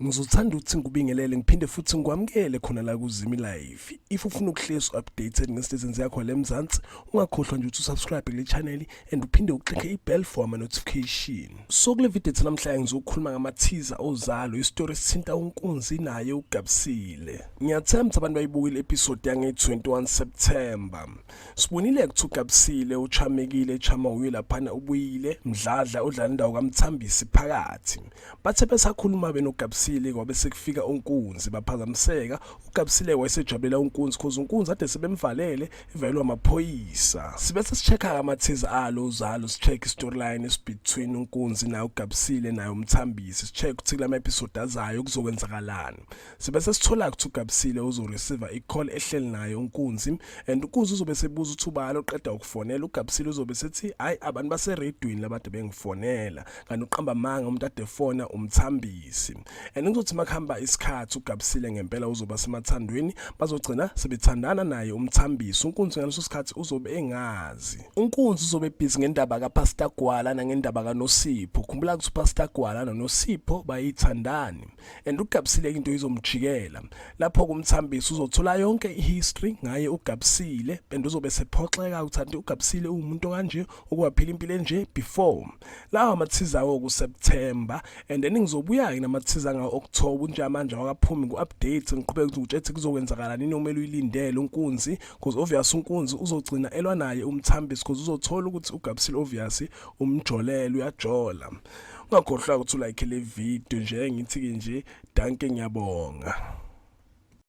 ngizothanda ukuthi ngikubingelele ngiphinde futhi ngikwamukele khona la kuzimi live if ufuna ukuhlezi updated ngesitezini zakho le mzansi ungakhohlwa nje ukuthi usubscribe kule channel and uphinde uxike ibell for ama-notification so kule video ethu namhlanje ngizokhuluma ngamathiza ozalo isitori esithinta unkunzi naye ugabisile ngiyathemba abantu bayibukile episode yange-21 september sibonile kuthi ugabisile uchamekile echama uye laphana ubuyile mdladla udlala indawo kamthambisi phakathi bathe besakhuluma benogabisile kwabe sekufika unkunzi baphazamiseka ugabisile wayesejabulela unkunzi cause unkunzi ade sebemvalele ivelwa amaphoyisa sibe sesichekha amathize alo uzalo sicheck storyline esibetween unkunzi nayo ugabisile nayo umthambisi sicheck ukuthi kula episode azayo kuzokwenzakalani sibe sesithola ukuthi ugabisile uzoreceive icall ehleli naye unkunzi and unkunzi uzobe sebuza ukuthi ubalo qeda ukufonela ugabisile uzobe sethi hayi abantu baseredwini labantu bengifonela kanti uqamba manga umuntu adefona umthambisi and ngizothi makuhamba isikhathi ugabisile ngempela uzoba semathandweni bazogcina sebethandana naye umthambisi unkunzi ngaleso sikhathi uzobe engazi unkunzi uzobe ebhizi ngendaba kapastor gwala nangendaba kanosipho khumbula ukuthi upastor gwala nonosipho bayithandani and ugabisile into izomjikela lapho kumthambisi uzothola yonke ihistory ngaye ugabisile and uzobe sephoxeka ukuthi anti ugabisile ungumuntu kanje ukuwaphila impilo enje before lawa amathiza awo kuSeptember and then ngizobuya-ke namathiza angawo-October unjamanje wakaphumi ku-update ngiqhubeke ukuthi ngitshethi kuzokwenzakala nini okumele uyilindele unkunzi because obvious unkunzi uzogcina elwa naye umthambisi because uzothola ukuthi ugabisile obvious umjolele uyajola ungakhohlwa ukuthi ulayikhe le video nje ngithi-ke nje danke ngiyabonga